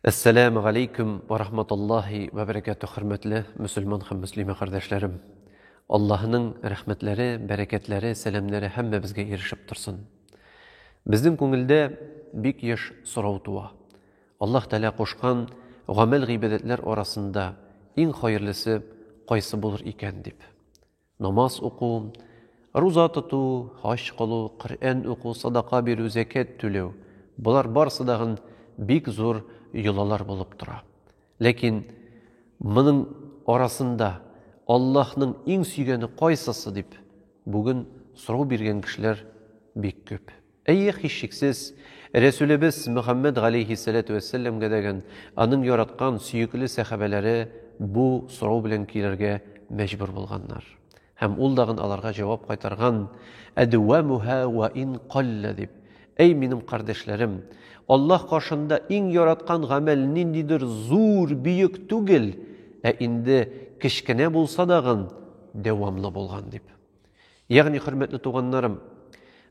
Әссәләмү галәйкүм ва рахматуллахи ва бәрәкәтү хөрмәтле мөселман һәм мөслимә кардәшләрем. Аллаһының рәхмәтләре, бәрәкәтләре, сәламнәре һәммәбезгә ирешеп торсын. Безнең күңелдә бик еш сорау туа. Аллаһ Тәгалә кушкан гамәл гыйбадәтләр арасында иң хәерлесе кайсы булыр икән дип. Намаз уку, руза тоту, хаҗ кылу, Коръән уку, садака бирү, зәкят түләү, болар барысы да бик зур йолалар булып тора. Ләкин моның арасында Аллаһның иң сөйгәне кайсысы дип бүген сорау биргән кешеләр бик күп. Әйе, һичшиксез, Рәсүлебез Мөхәммәд галәйһиссәләтү вәссәләмгә дәгән, аның яраткан, сөекле сәхабәләре бу сорау белән килергә мәҗбүр булганнар. Һәм ул дагын аларга җавап кайтарган, Әдүәмүһә вә ин каллә дип, Әй минем кардәшләрем, Аллаһ каршында иң яраткан гамәл ниндидер зур, бөек түгел, ә инде кечкенә булса дагын, дәвамлы булган дип. Ягъни, хөрмәтле туганнарым,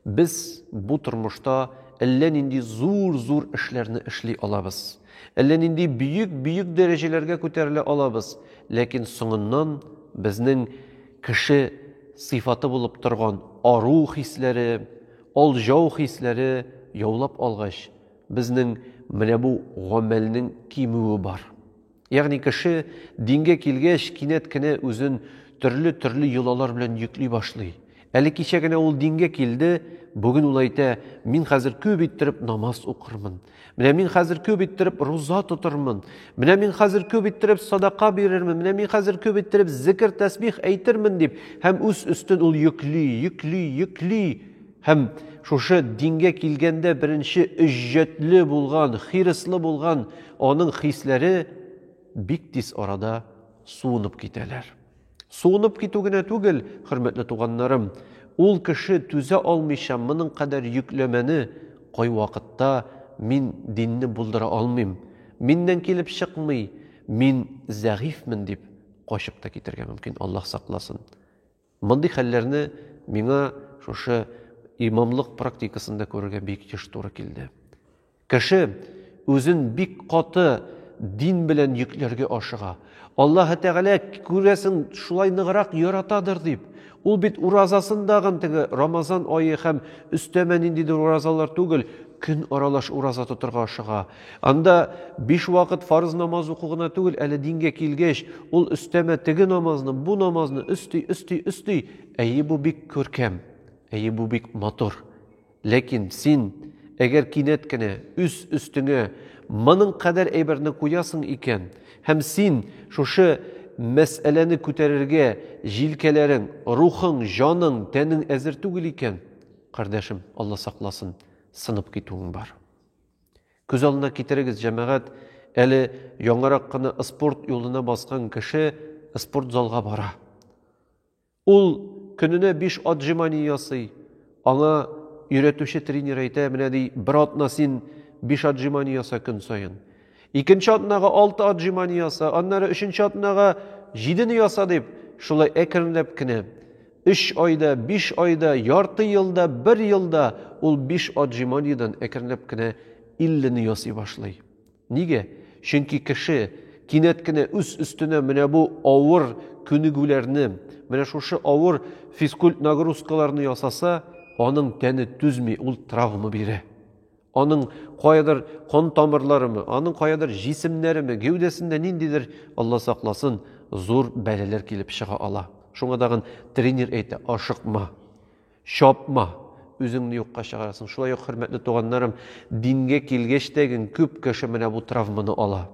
без бу тормышта әллә нинди зур-зур эшләрне эшли алабыз. Әллә нинди бөек-бөек дәрәҗәләргә күтәрелә алабыз, ләкин соңыннан безнең кеше сыйфаты булып торган ару хисләре, алҗау хисләре яулап алгач, безнең менә бу гамәлнең кимүе бар. Ягъни кеше дингә килгәч, кинәт кенә үзен төрле-төрле йолалар белән йөкли башлый. Әле кичә генә ул дингә килде, бүген ул әйтә, мин хәзер күп иттереп намаз укырмын. Менә мин хәзер күп иттереп руза тотырмын. Менә мин хәзер күп иттереп садака бирермен. Менә мин хәзер күп иттереп зикр, тәсбих әйтермен дип һәм үз өстен ул йөкли, йөкли, йөкли. Һәм шушы дингә килгәндә беренче өҗҗәтле булган, хирыслы булган аның хисләре бик тиз арада суынып китәләр. Суынып китү генә түгел, хөрмәтле туганнарым, ул кеше түзә алмыйча моның кадәр йөкләмәне кайвакытта мин динне булдыра алмыйм, миннән килеп чыкмый, мин зәгыйфьмен дип качып та китергә мөмкин, Аллаһ сакласын. Мондый хәлләрне миңа шушы имамлык практикасында күрергә бик еш туры килде. Кеше үзен бик каты дин белән йөкләргә ашыга. Аллаһы Тәгалә күрәсең шулай ныграк яратадыр дип. Ул бит уразасын дагын теге Рамазан ае һәм өстәмә ниндидер уразалар түгел, көн аралаш ураза тотырга ашыга. Анда биш вакыт фарыз намаз уку гына түгел, әле дингә килгәч, ул өстәмә теге намазны, бу намазны өсти, өсти, өсти. Әйе, бу бик күркәм. Әйе, бу бик матур. Ләкин син, әгәр кинәт кенә үз өстеңә моның кадәр әйберне куясың икән, һәм син шушы мәсьәләне күтәрергә җилкәләрең, рухың, җаның, тәнең әзер түгел икән, кардәшем, Алла сакласын, сынып китүең бар. Күз алдына китерегез, җәмәгать, әле яңарак кына спорт юлына баскан кеше спорт залга бара. Ул көненә 5 отжимание ясый. Аңа өйрәтүче тренер әйтә, менә ди, бер атна син 5 отжимание яса көн саен. Икенче атнага 6 отжимание яса, аннары өченче атнага 7 яса дип, шулай әкренләп кенә Өч айда, биш айда, ярты елда, бер елда ул биш отжиманиедән әкренләп кенә иллене ясый башлый. Нигә? Чөнки кеше кинәт кенә үз өстенә менә бу авыр күнегүләрне, менә шушы авыр физкульт нагрузкаларны ясаса, аның тәне түзми, ул травма бирә. Аның каядыр кан тамырларымы, аның каядыр җисемнәреме, гәүдәсендә ниндидер, Алла сакласын, зур бәләләр килеп чыга ала. Шуңа тагын тренер әйтә, ашыкма, чапма, үзеңне юкка чыгарасың. Шулай ук, хөрмәтле туганнарым, дингә килгәч тә күп кеше менә бу травманы ала.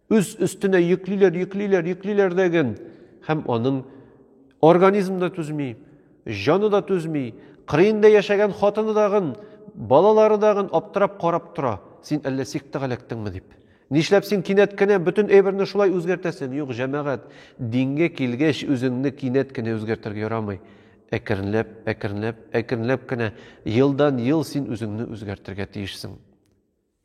үз өстенә йөклиләр, йөклиләр, йөклиләр дәген һәм аның организм да түзми, җаны да түзми, кырыенда яшәгән хатыны дагын, балалары дагын аптырап карап тора. Син әллә сектага эләктеңме дип. Нишләп син кинәт кенә бөтен әйберне шулай үзгәртәсең? Юк, җәмәгать, дингә килгәч, үзеңне кинәт кенә үзгәртергә ярамый. Әкренләп, әкренләп, әкренләп кенә елдан-ел син үзеңне үзгәртергә тиешсең.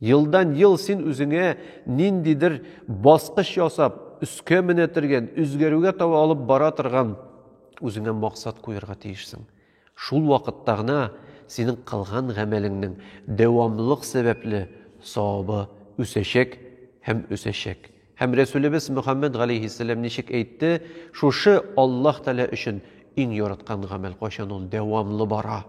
Елдан-ел син үзеңә ниндидер баскыч ясап, өскә менә тергән, үзгәрүгә таба алып бара торган үзеңә максат куярга тиешсең. Шул вакытта гына синең кылган гамәлеңнең дәвамлылык сәбәпле савабы үсәчәк һәм үсәчәк. Һәм Рәсүлебез Мөхәммәд галәйһиссәлам ничек әйтте, шушы Аллаһ Тәгалә өчен иң яраткан гамәл, кайчан ул дәвамлы бара,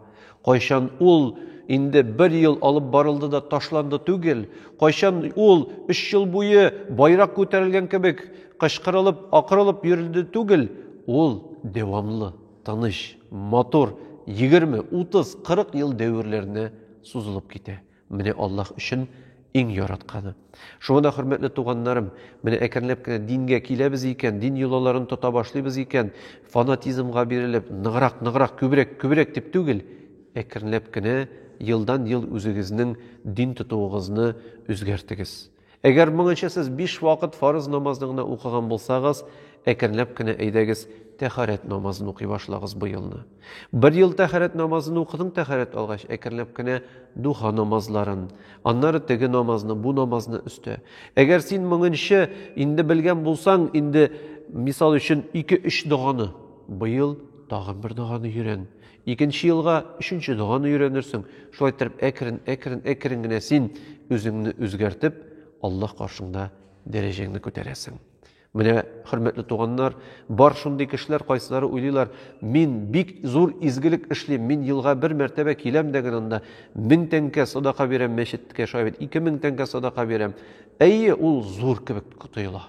кайчан ул инде бер ел алып барылды да ташланды түгел, кайчан ул өч ел буе байрак күтәрелгән кебек кычкырылып, акырылып йөрелде түгел, ул дәвамлы, тыныч, матур, егерме, утыз, кырык ел дәверләренә сузылып китә. Менә Аллаһ өчен иң яратканы. Шуңа да, хөрмәтле туганнарым, менә әкренләп кенә дингә киләбез икән, дин йолаларын тота башлыйбыз икән, фанатизмга бирелеп, ныграк, ныграк, күбрәк, күбрәк дип түгел, әкренләп кенә елдан-ел үзегезнең дин тотуыгызны үзгәртегез. Әгәр моңынча сез биш вакыт фарыз намазны гына укыган булсагыз, әкренләп кенә әйдәгез, тәхарәт намазын укый башлагыз бу елны. Бер ел тәхарәт намазын укыдың, тәхарәт алгач, әкренләп кенә духа намазларын, аннары теге намазны, бу намазны өстә. Әгәр син моңынча инде белгән булсаң, инде мисал өчен 2-3 доганы, быел тагын бер доганы йөрән. Икенче елга өченче доганы өйрәнерсең. Шулай иттереп, әкрен, әкрен, әкрен генә син үзеңне үзгәртеп, Аллаһ каршында дәрәҗәңне күтәрәсең. Менә, хөрмәтле туганнар, бар шундый кешеләр, кайсылары уйлыйлар, мин бик зур изгелек эшлим, мин елга бер мәртәбә киләм дә генә анда 1000 тәңкә садака бирәм мәчеткә, шулай бит, 2000 тәңкә садака бирәм. Әйе, ул зур кебек тоела.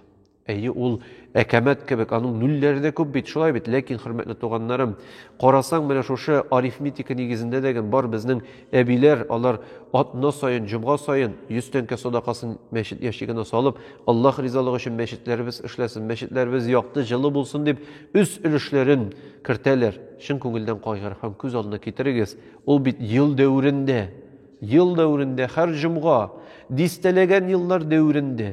Әйе, ул әкәмәт кебек, аның нульләре дә күп бит, шулай бит. Ләкин, хөрмәтле туганнарым, карасаң, менә шушы арифметика нигезендә дә гән бар безнең әбиләр, алар атна саен, җомга саен 100 тәңкә садакасын мәчет ящигына салып, Аллаһ ризалыгы өчен мәчетләребез эшләсен, мәчетләребез якты, җылы булсын дип, үз өлешләрен кертәләр. Чын күңелдән кайгыр һәм күз алдына китерегез, ул бит ел дәверендә, ел дәверендә, һәр җомга, дистәләгән еллар дәверендә,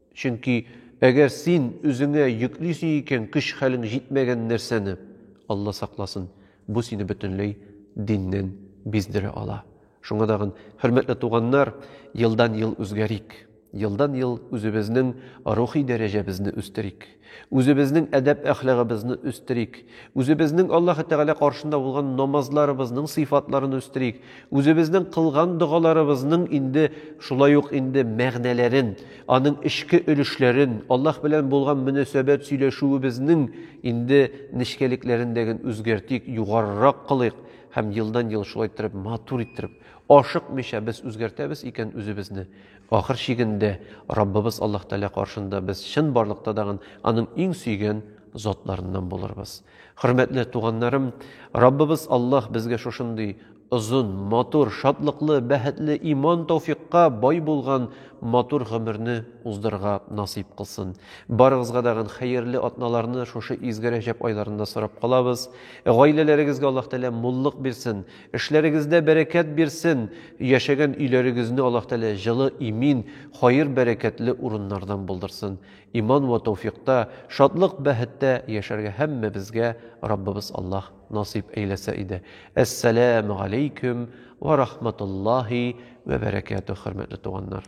Чөнки әгәр син үзеңә йөклисең икән көч-хәлең җитмәгән нәрсәне, Алла сакласын, бу сине бөтенләй диннән биздерә ала. Шуңа тагын, хөрмәтле туганнар, елдан-ел үзгәрик, елдан-ел үзебезнең рухи дәрәҗәбезне үстерик. Үзебезнең әдәп-әхлагыбызны үстерик. Үзебезнең Аллаһы Тәгалә каршында булган намазларыбызның сыйфатларын үстерик. Үзебезнең кылган догаларыбызның инде шулай ук инде мәгънәләрен, аның эчке өлешләрен, Аллаһ белән булган мөнәсәбәт сөйләшүебезнең инде нечкәлекләрен дәген үзгәртик, югарырак кылыйк һәм елдан-ел шулай иттереп матур иттереп, ашыкмыйча без үзгәртәбез икән үзебезне, Ахыр чигендә, Раббыбыз Аллаһ Тәгалә каршында без чынбарлыкта тагын Аның иң сөйгән затларыннан булырбыз. Хөрмәтле туганнарым, Раббыбыз Аллаһ безгә шушындый озын, матур, шатлыклы, бәхетле, иман тауфикка бай булган матур гомерне уздырырга насыйп кылсын. Барыгызга тагын хәерле атналарны шушы изге Рәҗәб айларында сорап калабыз. Гаиләләрегезгә Аллаһ Тәгалә муллык бирсен, Эшләрегездә бәрәкәт бирсен, яшәгән өйләрегезне Аллаһ Тәгалә җылы, имин, хаер-бәрәкәтле урыннардан булдырсын. Иман вә тәүфикъта, шатлык, бәһеттә яшәргә һәммәбезгә Раббыбыз Аллаһ насыйп әйләсә иде. Әссәләмү галәйкүм вә рахматуллаһи вә бәрәкәтүһ, хөрмәтле туганнар!